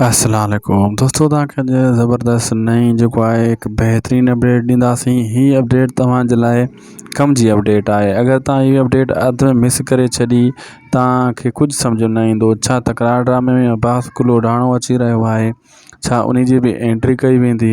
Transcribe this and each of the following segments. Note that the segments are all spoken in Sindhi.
السلام عليڪم دوستو توهان کي اڄ زبردست نئين جيڪو آهي هڪ بهترين اپڊيٽ ڏينداسين هي اپڊيٽ توهان جي لاء ڪم جي اپڊيٽ آهي اگر توهان هي اپڊيٽ اڌ ۾ مس ڪري ڇڏي توهان کي ڪجهه سمجھ ۾ نه ايندو ڇا تڪرار ڊرامي ۾ عباس ڪلهوڙاڻو اچي رهيو آهي ڇا ان جي به اينٽري ڪئي ويندي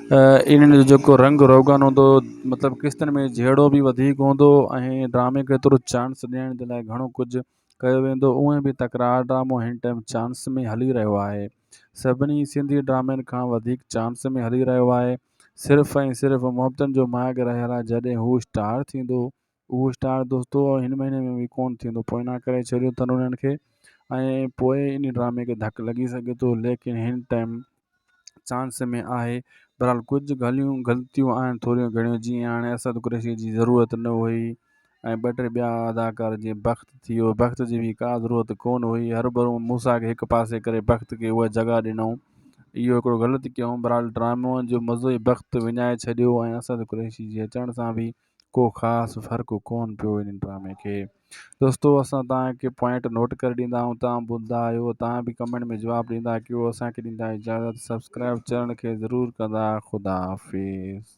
انهن جو جيڪو رنگ روغن هوندو مطلب قسطن ۾ جهيڙو به وڌيڪ هوندو ۽ ڊرامي کي ايترو چانس ڏيڻ جي لاء گهڻو ڪجهه ڪيو ويندو اونئن به تڪرار ڊرامو هن ٽائيم چانس ۾ هلي رهيو آهي سڀني سنڌي ڊرامن کان وڌيڪ چانس ۾ هلي رهيو آهي صرف ۽ صرف محبتن جو ماڳ رهيل آهي جڏهن هو اسٽار ٿيندو اهو اسٽار دوستو هن مهيني ۾ به ڪونه ٿيندو پوئنا ڪري ڇڏيو اٿن انهن کي ۽ پوء ان ڊرامي کي ڌڪ لڳي سگهي ٿو ليڪن هن ٽائيم چانس ۾ آهي برحال ڪجهه گالهيون غلطيون آهن ٿوريون گهڻيون جيئن هاڻي اسد قريشي جي ضرورت نه هئي ۽ ٻه ٽي ٻيا اداڪار جيئن بخت ٿي ويو بخت جي به ڪا ضرورت ڪونه هئي هر ڀرون موسا کي هڪ پاسي ڪري بخت کي اها جڳهه ڏنائون اهو هڪڙو غلط ڪيائون برحال ڊرامو جو مزو ئي بخت وڃائي ڇڏيو ۽ اسد قريشي جي اچڻ سان به ڪو خاص فرق ڪون پيو ان ڊرامي کي دوستو اسان تان کي پوائنٽ نوٽ ڪري ڏيندا آهيون تان ٻڌندا آهيو تان به ڪمينٽ ۾ جواب ڏيندا ڪيو اسان کي ڏيندا اجازت سبسڪرائب چينل کي ضرور ڪندا خدا حافظ